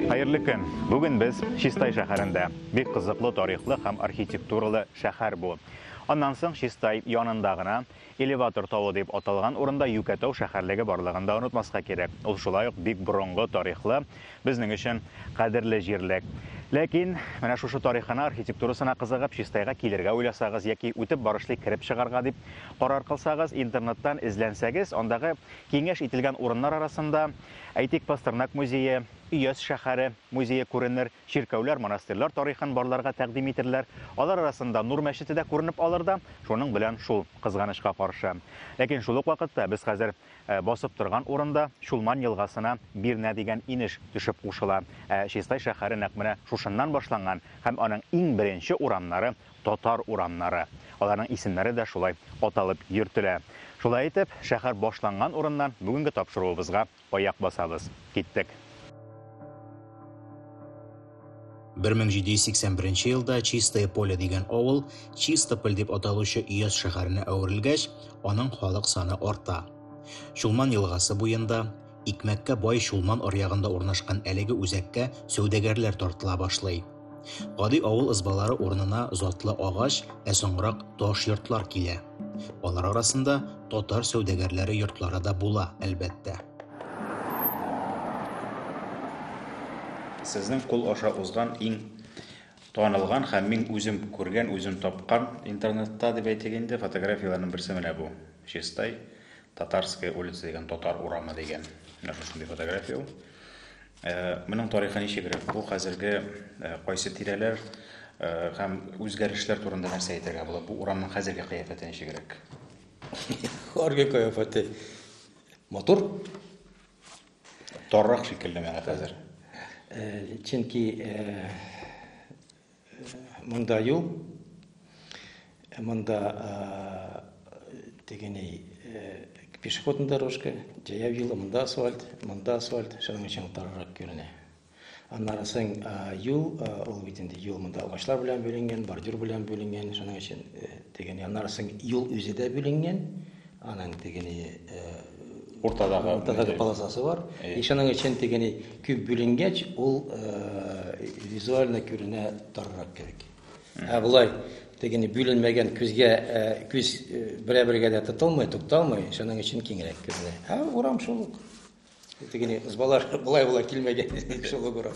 Хәерле көн! Бүген без Чистай шәһәрендә. Бик кызыклы тарихлы һәм архитектуралы шәһәр бу. Аннан соң Чистай янында гына Элеватор тавы дип аталган урында Юкәтау шәһәрлеге барлыгын да онытмаска кирәк. Ул шулай ук бик борынгы тарихлы, безнең өчен кадерле җирлек. Ләкин менә шушы тарихына, архитектурасына кызыгып, Чистайга килергә уйласагыз яки үтеп барышлый кереп чыгарга дип карар кылсагыз, интернеттан эзләнсәгез, андагы киңәш ителгән урыннар арасында Әйтик, Пастернак музее, Өяз шәһәре музее күренер, чиркәүләр, монастырьлар тарихын барларга тәкъдим итерләр. Алар арасында Нур мәчете дә күренеп алыр да, шуның белән шул, кызганычка каршы. Ләкин шул ук вакытта без хәзер басып торган урында Чулман елгасына Бирнә дигән инеш төшеп кушыла. Ә Чистай шәһәре нәкъ менә шушыннан башланган һәм аның иң беренче урамнары Татар урамнары. Аларның исемнәре дә шулай аталып йөртелә. Шулай итеп, шәһәр башланган урыннан бүгенге тапшыруыбызга аяк басабыз. Киттек! 1781 нче елда Чистое Поле дигән авыл Чистополь дип аталучы өяз шәһәренә әверелгәч, аның халык саны арта. Чулман елгасы буенда, Икмәккә бай Чулман аръягында урнашкан әлеге үзәккә сәүдәгәрләр тартыла башлый. Гади авыл ызбалары урынына затлы агач, ә соңрак таш йортлар килә. Алар арасында татар сәүдәгәрләре йортлары да була, әлбәттә. Сезнең кул аша узган иң танылган һәм мин үзем күргән, үзем тапкан интернетта дип әйтик инде, фотографияләрнең берсе менә бу. Чистай Татарская улица дигән, Татар урамы дигән, менә шушындый фотография ул. Э, моның тарихы ничегрәк? Бу хәзерге э, кайсы тирәләр э, һәм үзгәрешләр турында нәрсә әйтергә була? Бу урамның хәзерге кыяфәте ничегрәк? Хәрге кыяфәте матур. Торрак шикелле менә хәзер. Чөнки Монда юл, монда тегене пешеходный дорожка, җәяү юлы, монда асфальт, монда асфальт, шуның өчен тарырак күренә. Аннары соң юл, ул бит инде юл монда агачлар белән бүленгән, бордюр белән бүленгән, шуның өчен тегене. Аннары соң юл үзе дә бүленгән. Аның тегене уртадагы уртадагы полосасы бар. И шуның өчен тегене күп бүленгәч, ул визуально күренә тарырак кебек. Ә болай тегене бүленмәгән күзгә күз берәбергә дә тотылмый, тукталмый, шуның өчен киңрәк күренә. Ә урам шул ук. Тегене ызбалар болай болай килмәгән инде шул угры.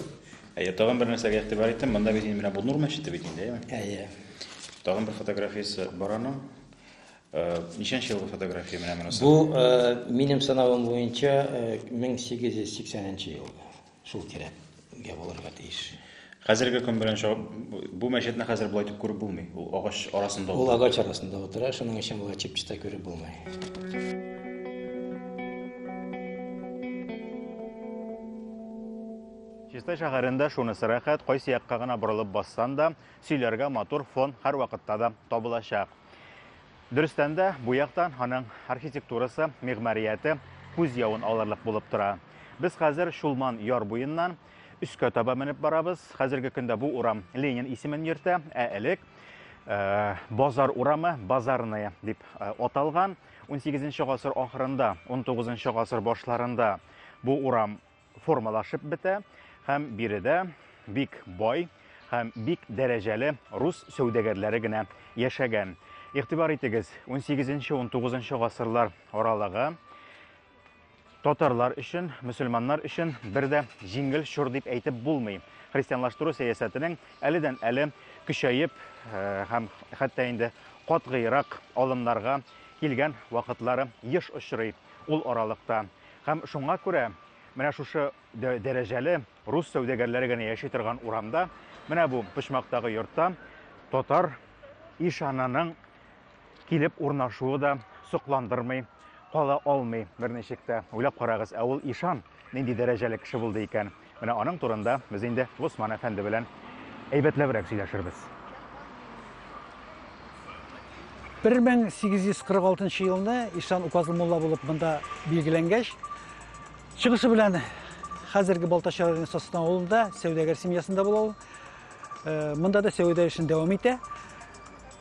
Әйе, тагын бер нәрсәгә игътибар иттем. Монда бит инде менә бу Нур мәчете бит инде, әйеме? Әйе. Тагын бер фотографиясе бар аның. Э, ничәнче елгы фотография менә монысы? Бу э, минем санавым буенча 1880 э, елгы. Шул тирәгә булырга тиеш. Хәзерге көн белән чагып, бу мәчетне хәзер болай итеп күреп булмый. Ул агач арасында утыра. Ул агач арасында утыра, шуның өчен болай чип-чита күреп булмый. Чистай шәһәрендә шунысы рәхәт, кайсы якка гына борылып бассан да, сөйләргә матур фон һәрвакытта да табылачак. Дөрестән дә, бу яктан аның архитектурасы, мигъмарияте күз явын алырлык булып тора. Без хәзер Чулман яр буеннан өскә таба менеп барабыз. Хәзерге көндә бу урам Ленин исемен йөртә, ә элек э, Базар урамы, Базарная дип э, аталган. 18 гасыр ахырында, 19 гасыр башларында бу урам формалашып бетә һәм биредә бик бай һәм бик дәрәҗәле рус сәүдәгәрләре генә яшәгән. Игътибар итегез, 18-19 гасырлар аралыгы татарлар өчен, мөселманнар өчен бер дә җиңел чор дип әйтеп булмый. Христианлаштыру сәясәтенең әледән әле көчәеп э, һәм хәтта инде катгыйрак алымнарга килгән вакытлары еш очрый ул аралыкта. Һәм шуңа күрә менә шушы дәрәҗәле рус сәүдәгәрләре генә яши торган урамда, менә бу почмактагы йортта татар ишананың килеп урнашуы да сокландырмый кала алмый берничек тә. Уйлап карагыз, ә ул ишан нинди дәрәҗәле кеше булды икән? Менә аның турында без инде Госман әфәнде белән әйбәтләбрәк сөйләшербез. 1846 елны Ишан указлы мулла булып монда билгеләнгәч, чыгышы белән хәзерге Балтач районы Состан авылында сәүдәгәр семьясында була ул. Э, монда да сәүдә эшен дәвам итә.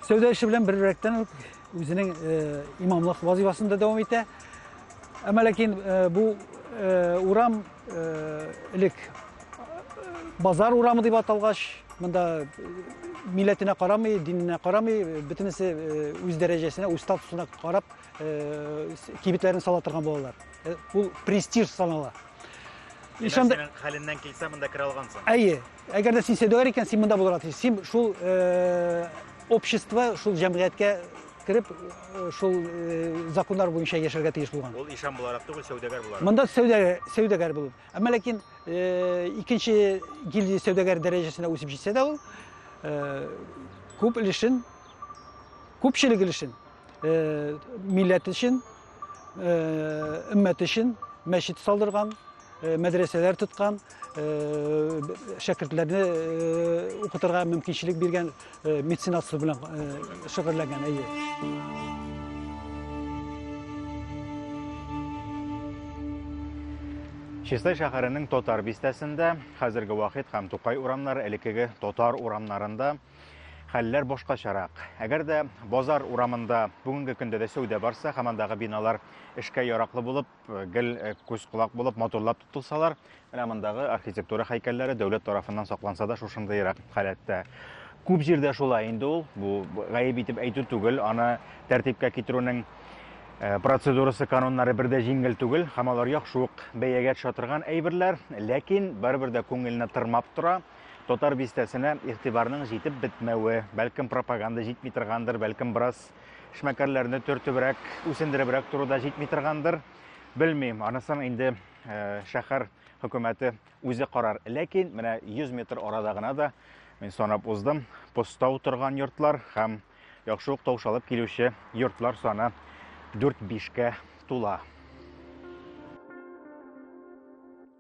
Сәүдә эше белән бер рәттән Үзенең имамлык вазифасын да дәвам итә. Әмма ләкин бу урам элек базар урамы дип аталгач, монда милләтенә карамый, диненә карамый, бөтенесе үз дәрәҗәсенә, үз статусына карап кибетләрен сала торган булалар. Бу престиж санала. Ишанда хәленнән килсә монда керә алгансың. Әйе. Әгәр дә син сәүдәгәр икән, син монда булырга тиеш. Син шул э, общество, шул җәмгыятькә кереп, э, шул э, законнар буенча яшәргә тиеш булган. Ул ишан буларак түгел, сәүдәгәр буларак. Монда сәүдәгәр, сәүдәгәр булып. Әмма ләкин э, икенче гильдия сәүдәгәр дәрәҗәсенә үсеп җитсә дә ул, э, күп өлешен, күпчелек өлешен милләт өчен, өммәт өчен мәчет салдырган, мәдрәсәләр тоткан, шәкертләрне укытырга мөмкинчелек биргән меценатство белән шөгыльләнгән, әйе. Чистай шәһәренең Татар бистәсендә, хәзерге Вахит һәм Тукай урамнары, элеккеге Татар урамнарында хәлләр башкачарак. Әгәр дә базар урамында бүгенге көндә дә сәүдә барса, һәм андагы биналар эшкә яраклы булып, э, гел э, күз колак булып, матурлап тотылсалар, менә мондагы архитектура һәйкәлләре дәүләт тарафыннан сакланса да шушындыйрак халәттә. Күп җирдә шулай инде ул, бу гаеп итеп әйтү түгел, аны тәртипкә китерүнең Э, процедурасы кануннары бер дә җиңел түгел һәм алар яхшы ук бәягә төшә торган әйберләр ләкин барыбер дә күңелне тырмап тора Татар бистәсенә игътибарның җитеп бетмәве, бәлкем пропаганда җитми торгандыр, бәлкем бераз эшмәкәрләрне төртебрәк, үсендеребрәк тору да җитми торгандыр. Белмим, анысын инде э, шәһәр хөкүмәте үзе карар. Ләкин менә 100 метр арада гына да мин санап уздым, постау торган йортлар һәм яхшы ук таушалып килүче йортлар саны 4-5 кә тула.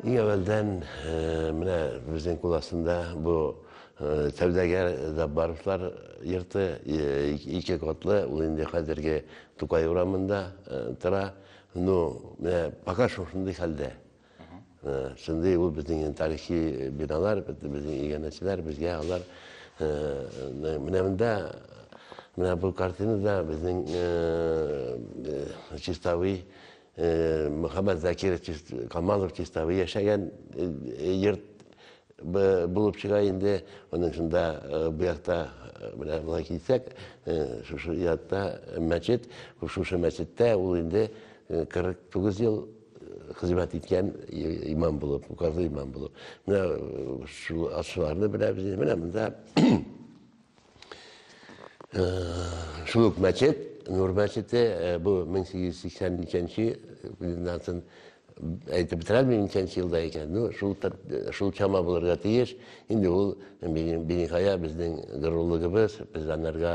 Иң әвәлдән менә безнең кул астында бу сәүдәгәр Заббаровлар йорты ике котлы, ул инде хәзерге Тукай урамында тора. Ну, менә пока шул шундый хәлдә. Шундый ул безнең тарихи биналар, безнең иганәчеләр, безгә алар менә монда менә бу картинада безнең чистовый Э, Мөхәммәд Закиров Камалов Чистовы яшәгән йорт э, э, булып чыга инде. Аның шунда бу якта менә болай килсәк, шушы ятта мәчет, шушы мәчеттә ул инде 49 ел хезмәт иткән имам булып, указлы имам булып. Менә шул ашларны беләбез. Менә монда Шул ук мәчет, Нур мәчете, бу 1883 нче әйтеп бетерәлмим ничәнче елда икән ну шул шул чама булырга тиеш инде ул биниһая безнең горурлыгыбыз без анарга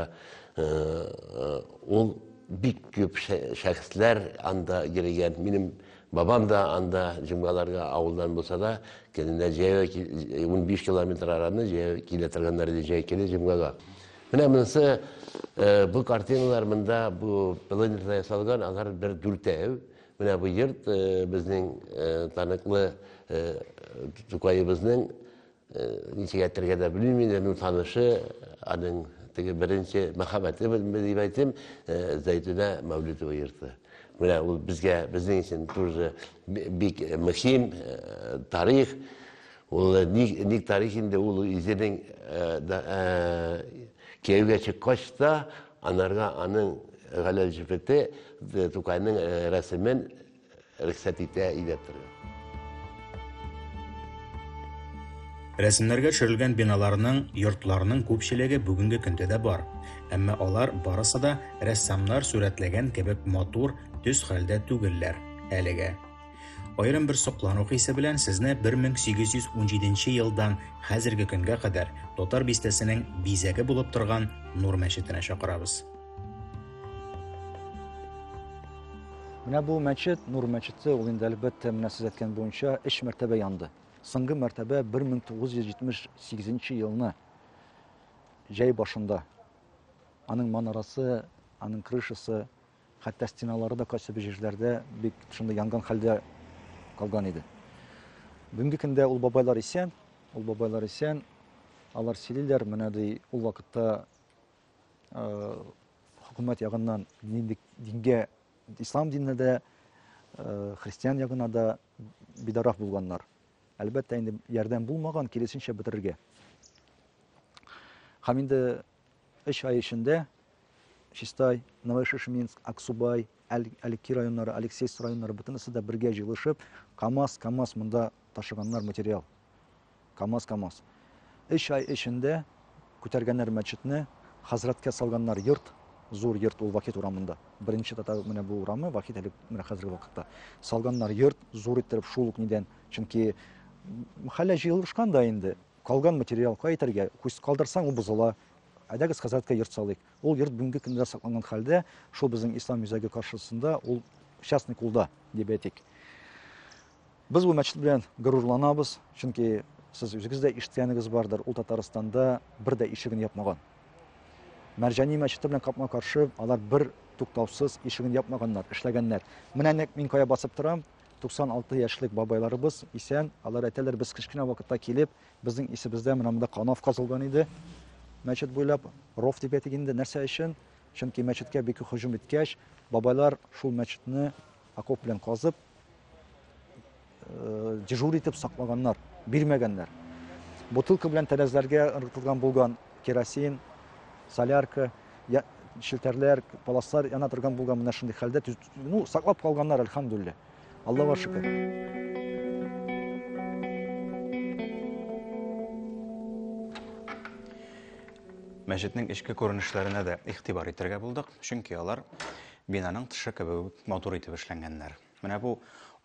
ул бик күп шәхесләр анда йөрегән минем Бабам да анда җомгаларга авылдан булса да, көненә җәяү ки- унбиш километр араны җәяү килә торганнар иде җәй көне җомгага. Менә монысы, э, бу картиналар монда бу планетада ясалган, алар бер дүртәү. Менә бу йорт, э, безнең, э, таныклы, э, Тукаебызның Ничек әйтергә дә белмим инде, ну танышы, аның теге беренче мәхәббәте белмә дип әйтим, Зәйтүнә Мәүлидова йөрте. Менә ул безгә, безнең өчен тоже бик мөһим тарих. Ул ник, ник тарих инде ул үзенең кияүгә чыккач та, анарга аның галәл җефете Тукайның рәсемен рөхсәт итә өйрәтергә. Рәсемнәргә төшерелгән биналарның, йортларның күпчелеге бүгенге көндә дә бар, әмма алар барысы да рәссамнар сурәтләгән кебек матур, төз хәлдә түгелләр, әлегә. Аерым бер соклану хисе белән сезне 1817 елдан хәзерге көнгә кадәр Татар бистәсенең бизәге булып торган Нур мәчетенә чакырабыз. Менә бу мәчет, Нур мәчете, ул инде әлбәттә менә сез әйткән буенча өч мәртәбә янды. Соңгы мәртәбә 1978 елны җәй башында аның манарасы, аның крышасы, хәтта стеналары да кайсы бер җирләрдә бик шундый янган хәлдә калган иде. Бүгенге көндә ул бабайлар исән, ул бабайлар исән, алар сөйлиләр, менә ди ул вакытта хөкүмәт ягыннан нинди дингә ислам диненә дә христиан ягына да бидарак булганнар әлбәттә инде ярдәм булмаган киресенчә бетерергә һәм инде өч ай эчендә чистай новошишминск аксубай әлки районнары алексейс районнары бөтенесе дә бергә җыелышып камаз камаз монда ташыганнар материал Камаз, камаз. Өч ай эчендә күтәргәннәр мәчетне, хәзрәткә салганнар йорт, зур йорт ул Вахит урамында. Беренче татар менә бу урамы, Вахит әле менә хәзерге вакытта. Салганнар йорт, зур иттереп шул ук нидән, чөнки хәллә җыелышкан да инде. Калган материал кая итәргә? Күз калдырсаң, ул бозыла. Әйдәгез, хәзрәткә йорт салыйк. Ул йорт бүгенге көндә сакланган хәлдә, шул безнең Ислам үзәге каршысында, ул частный кулда, дип әйтик. Без бу мәчет белән горурланабыз, чөнки сез үзегез дә ишеткәнегез бардыр, ул Татарстанда бер дә ишеген япмаган. Мәрҗани мәчете белән капма-каршы алар бер туктаусыз ишеген япмаганнар, эшләгәннәр. Менә нәкъ мин кая басып торам, 96 яшьлек бабайларыбыз исән, алар әйтәләр, без кечкенә вакытта килеп, безнең исебездә менә монда канав казылган иде. Мәчет буйлап ров дип әйтик инде, нәрсә өчен? Чөнки мәчеткә бик һөҗүм иткәч, бабайлар шул мәчетне Окоп белән казып, э, дежур итеп саклаганнар, бирмәгәннәр. Бутылка белән тәрәзләргә ыргытылган булган керосин, солярка, я, шелтәрләр, паласлар яна торган булган менә шундый хәлдә, ну, саклап калганнар, альхамдуллилля. Аллаһуга шөкер. Мәчетнең эчке күренешләренә дә игътибар итәргә булдык, чөнки алар Бинаның тышы кебек үк матур итеп эшләнгәннәр. Менә бу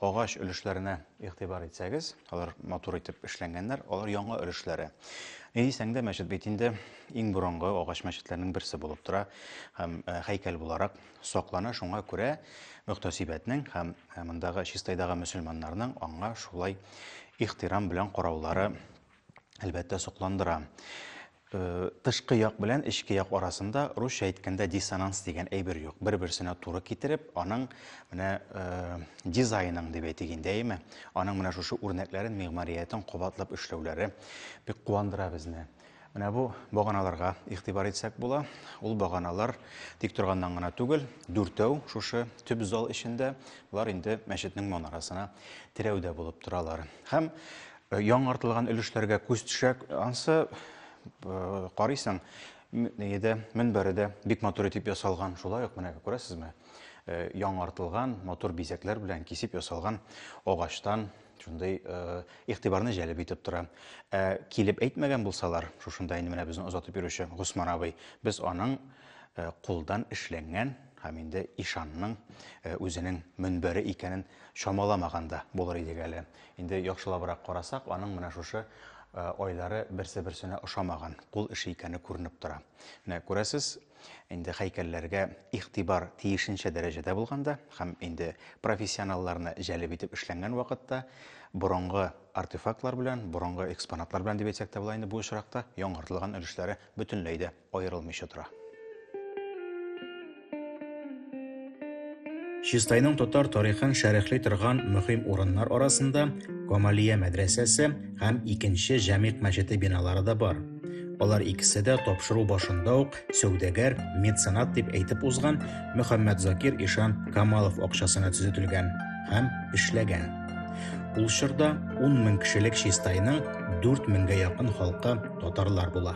агач өлешләренә игътибар итсәгез, алар матур итеп эшләнгәннәр, алар яңа өлешләре. Ни дисәң дә, мәчет бит инде иң борынгы агач мәчетләрнең берсе булып тора һәм э, һәйкәл буларак саклана. Шуңа күрә мөхтәсибәтнең һәм э, мондагы чистайдагы мөселманнарның аңа шулай ихтирам белән караулары Әлбәттә, сокландыра. Тышкы як белән эчке як арасында русча әйткәндә диссонанс дигән әйбер юк. Бер-берсенә туры китереп, аның менә дизайнын дип әйтик инде, әйеме? Аның менә шушы үрнәкләрен, мигъмариятен кабатлап эшләүләре бик куандыра безне. Менә бу баганаларга игътибар итсәк була. Ул баганалар тик торганнан гына түгел, дүртәү шушы төп зал эчендә, болар инде мәчетнең манарасына терәүдә булып торалар. Һәм Яңартылган өлешләргә күз төшә. Ансы карыйсың, нигеде, мөнбәре дә бик матур итеп ясалган. Шулай ук менә күрәсезме? Яңартылган матур бизәкләр белән кисеп ясалган агачтан шундый игътибарны җәлеп итеп тора. Ә килеп әйтмәгән булсалар, шушында инде менә безне озатып йөрүче Госман абый, без аның кулдан эшләнгән һәм инде ишанның үзенең мөнбәре икәнен чамаламаганда булыр идек әле. Инде яхшылабрак карасак, аның менә шушы айлары берсе-берсенә ошамаган, кул эше икәне күренеп тора. Менә күрәсез, инде хәйкәлләргә игътибар тиешенчә дәрәҗәдә булганда һәм инде профессионалларны җәлеп итеп эшләнгән вакытта борынгы артефактлар белән, борынгы экспонатлар белән дип әйтсәк тә була инде бу очракта, яңартылган өлешләре бөтенләй дә аерылмыйча тора. Чистайның татар тарихын шәрехли торган мөһим урыннар арасында Камалия мәдрәсәсе һәм икенче Җәмигъ мәчете биналары да бар. Алар икесе дә тапшыру башында ук сәүдәгәр, меценат дип әйтеп узган Мөхәммәд Закир ишан Камалов акчасына төзетелгән һәм эшләгән. Ул чорда 10 мең кешелек Чистайның 4 меңгә якын халкы татарлар була.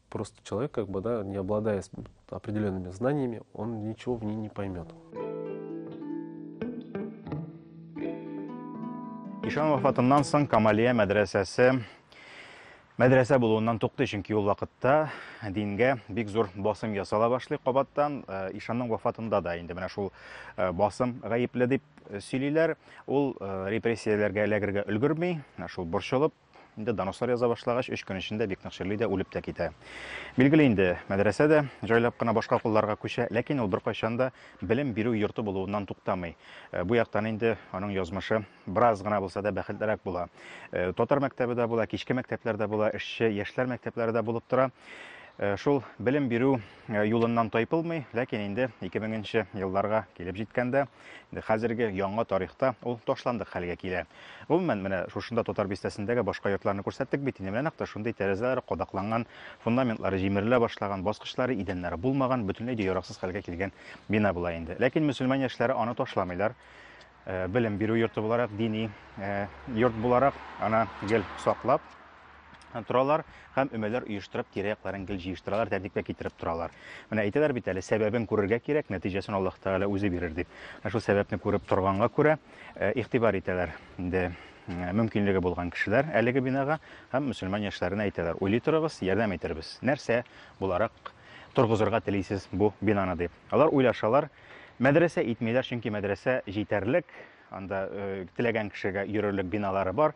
Просто человек, как бы, да, не обладая определенными знаниями, он ничего в ней не поймет. Ишан вафатыннан соң Камалия мәдрәсәсе мәдрәсә булуыннан туктый, чөнки ул вакытта дингә бик зур басым ясала башлый кабаттан. Э, Ишанның вафатында да инде менә шул э, басым гаепле дип э, сөйлиләр. Ул репрессияләргә эләгергә өлгерми, шул борчылып Инде донослар яза башлагач, өч көн эчендә бик нык чирли дә, үлеп тә китә. Билгеле инде, мәдрәсә дә җайлап кына башка кулларга күчә, ләкин ул беркайчан да белем бирү йорты булуыннан туктамый. Э, бу яктан инде аның язмышы бераз гына булса да бәхетлерәк була. Э, татар мәктәбе дә була, кичке мәктәпләр дә була, эшче яшьләр мәктәпләре дә булып тора. Э, шул белем бирү э, юлыннан тайпылмый, ләкин инде 2000 елларга килеп җиткәндә, Инде хәзерге яңа тарихта ул ташландык хәлгә килә. Гомумән, менә шушында Татар бистәсендәге башка йортларны күрсәттек бит инде. Менә нәкъ тә шундый тәрәзәләре кадакланган, фундаментлары җимерелә башлаган, баскычлары, идәннәре булмаган, бөтенләй дә яраксыз хәлгә килгән бина була инде. Ләкин мөселман яшьләре аны ташламыйлар. Э, белем бирү йорты буларак, дини э, йорт буларак аны гел саклап, торалар һәм өмәләр оештырып тирә-якларын гел җыештыралар, тәртипкә китереп торалар. Менә әйтәләр бит әле, сәбәбен күрергә кирәк, нәтиҗәсен Аллаһ Тәгалә үзе бирер дип. Ә шул сәбәпне күреп торганга күрә, э, игътибар итәләр инде э, мөмкинлеге булган кешеләр әлеге бинага һәм мөселман яшьләренә әйтәләр, уйлый торыгыз, ярдәм итәрбез. Нәрсә буларак торгызырга телисез бу бинаны дип. Алар уйлашалар, мәдрәсә итмиләр, чөнки мәдрәсә җитәрлек, анда э, теләгән кешегә йөрерлек биналары бар.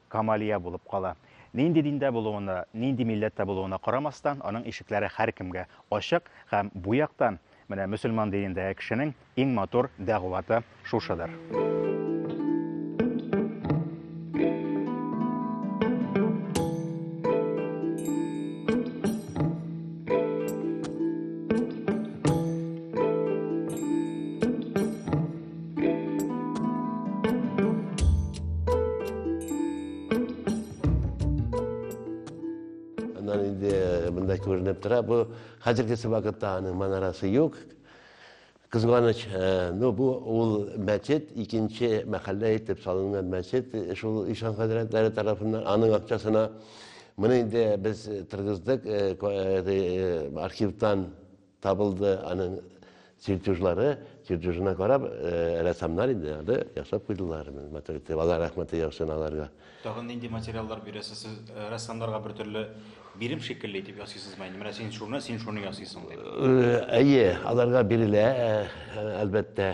Камалия булып кала. Нинди диндә булуына, нинди милләттә булуына карамастан, аның ишекләре һәркемгә ачык һәм бу яктан менә мөселман динендәге кешенең иң матур дәгъваты шушыдыр. Аннан инде мында күренеп тора, бу хәзерге вакытта аның манарасы юк. Кызганыч, э, ну бу ул мәчет, икенче мәхәллә итеп салынган мәчет, э, шул ишан хәзрәтләре тарафыннан аның акчасына моны инде без торгыздык э, архивтан Табылды аның чертежлары, чертежына карап, рәссамнар инде аны ясап куйдылар. Матур итеп, Алла рәхмәте яусын аларга. Тагын нинди материаллар бирәсез? Сез рәссамнарга бер төрле бирем шикелле итеп ясыйсызмы инде? Менә син шуны, син шуны ясыйсың дип. Әйе, аларга бирелә, әлбәттә,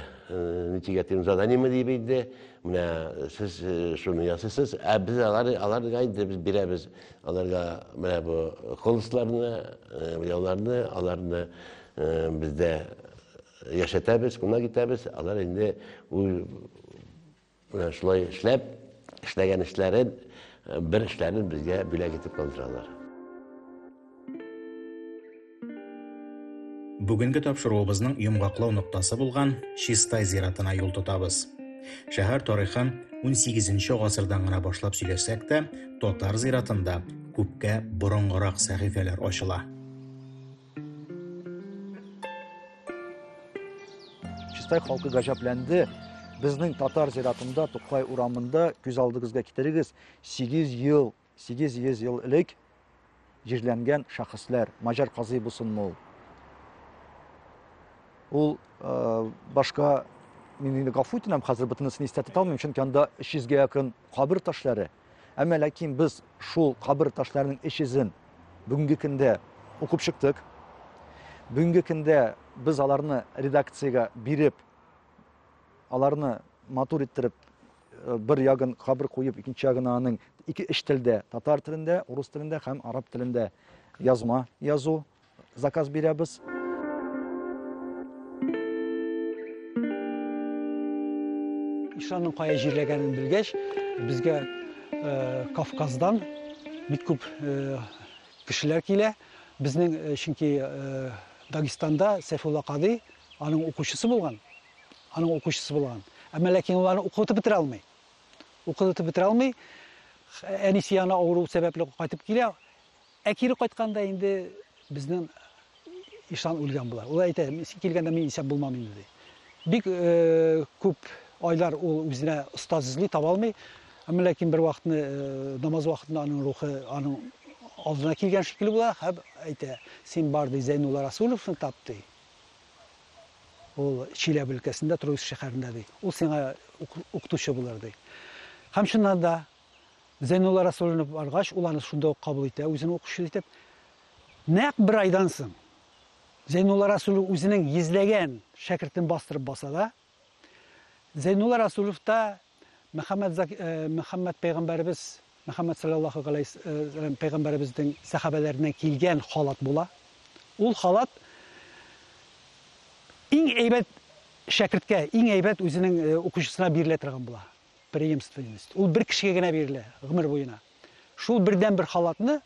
ничек әйтим, заданиеме дип инде, менә сез шуны ясыйсыз, ә без алар, аларга инде без бирәбез. Аларга менә бу колхозларны, ялларны, э, аларны э, бездә яшәтәбез, кунак итәбез. Алар инде менә шулай эшләп, эшләгән эшләрен, э, бер эшләрен безгә бүләк итеп калдыралар. Бүгенге тапшыруыбызның йомгаклау ноктасы булган Чистай зиратына юл тотабыз. Шәһәр тарихын 18-нче гасырдан гына башлап сөйләсәк тә, татар зиратында күпкә борынгырак сәхифәләр ачыла. Чистай халкы гаҗәпләнде. Безнең татар зиратында, Тукай урамында, күз алдыгызга китерегез, 8 ел 800 ел элек җирләнгән шәхесләр, Маҗар казый булсынмы ул? Ул э, башка мин инде гафу итәм, хәзер бөтенесен истә тота алмыйм, чөнки анда 300 гә якын кабер ташлары. Әмма ләкин без шул кабер ташларының 300-ен бүгенге көндә укып чыктык. Бүгенге көндә без аларны редакциягә биреп, аларны матур иттереп Э, бер ягын кабер куеп икенче ягына аның ике өч телдә татар телендә урыс телендә һәм араб телендә язма язу заказ бирәбез ишанның кая җирләгәнен белгәч безгә э, кавказдан бик күп э, кешеләр килә безнең чөнки дагестанда сәйфулла кадый аның укучысы булган аның укучысы булган. Әмма ләкин ул аны укытып бетерә алмый. Укытып бетерә алмый. Әнисе янына авыру сәбәпле кайтып килә. Ә кире кайтканда инде безнең ишан үлгән була. Ул әйтә, килгәндә мин исәп булмам инде ди. Бик э, күп айлар ул үзенә остаз эзли, таба алмый. Әмма ләкин бер вакытны э, намаз вакытында аның рухы аның алдына килгән шикелле була һәм әйтә, син бар ди Зәйнулла Расуловны тап ди. Ул Чиләбе өлкәсендә Троицк шәһәрендә ди. Ул сиңа укытучы булыр ди. Һәм чыннан да Зәйнулла Расуллинов баргач, ул аны шунда ук кабул итә, үзен укучы итеп. Нәкъ бер айдан соң Зәйнулла Расуллинов үзенең йөзләгән шәкертен бастырып баса да, Зәйнулла Расуловта Мөхәммәд Мөхәммәд пәйгамбәребез Мөхәммәд салләллаһу галәйһи пәйгамбәребезнең сәхабәләреннән килгән халат була. Ул халат иң әйбәт шәкерткә, иң әйбәт үзенең укучысына бирелә торган була. Преемственность. Ул бер кешегә генә бирелә гомер буена. Шул бердән бер халатны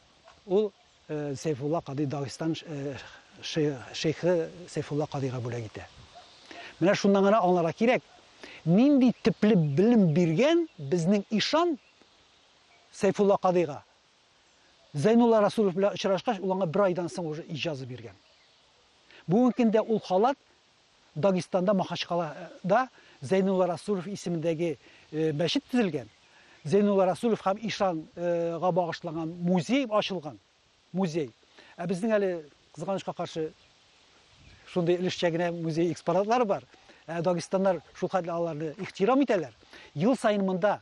ул Сәйфулла кадый Дагыстан шейхы Сәйфулла кадыйга бүләк итә. Менә шуннан гына аңларга кирәк, нинди төпле белем биргән безнең ишан Сәйфулла кадыйга. Зәйнулла Расулов белән очрашкач, ул аңа бер айдан соң уже иҗаза биргән. Бүгенге көндә ул халат Дагестанда Махачкалада Зәйнулла Расулов исемендәге мәчет төзелгән, Зәйнулла Расулов һәм ишан га багышланган музей ачылган. Музей. Ә безнең әле, кызганычка каршы, шундый өлешчә генә музей экспонатлары бар. Ә дагестаннар шулхәтле аларны ихтирам итәләр. Ел саен монда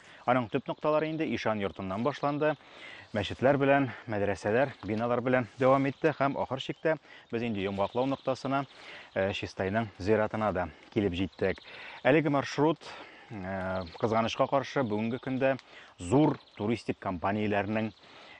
Аның төп нокталары инде ишан йортыннан башланды, мәчетләр белән, мәдрәсәләр, биналар белән дәвам итте һәм ахыр чиктә без инде йомгаклау ноктасына, э, Чистайның зиратына да килеп җиттек. Әлеге маршрут э, кызганычка каршы бүгенге көндә зур туристик компанияләрнең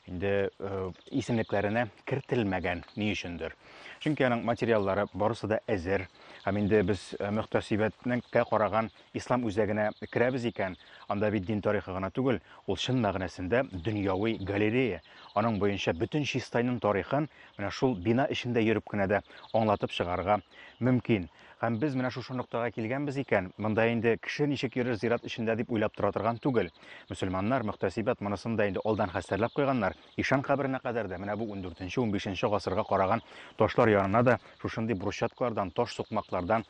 инде э, исемлекләренә кертелмәгән ни өчендер. Чөнки аның материаллары барысы да әзер. Һәм инде без мөхтәсибәтнеккә караган Ислам үзәгенә керәбез икән, анда бит дин тарихы гына түгел, ул чын мәгънәсендә дөньяви галерея. Аның буенча бөтен Чистайның тарихын менә шул бина эчендә йөреп кенә дә аңлатып чыгарырга мөмкин. Һәм без менә шушы ноктага килгәнбез икән, монда инде кеше ничек йөрер зират эчендә дип уйлап тора торган түгел. Мөселманнар, мөхтәсибәт монысын да инде алдан хәстәрләп куйганнар, ишан каберенә кадәр дә менә бу ундүртенче-унбишенче гасырга караган ташлар янына да шушындый брусчаткалардан, таш сукмаклардан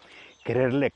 керерлек.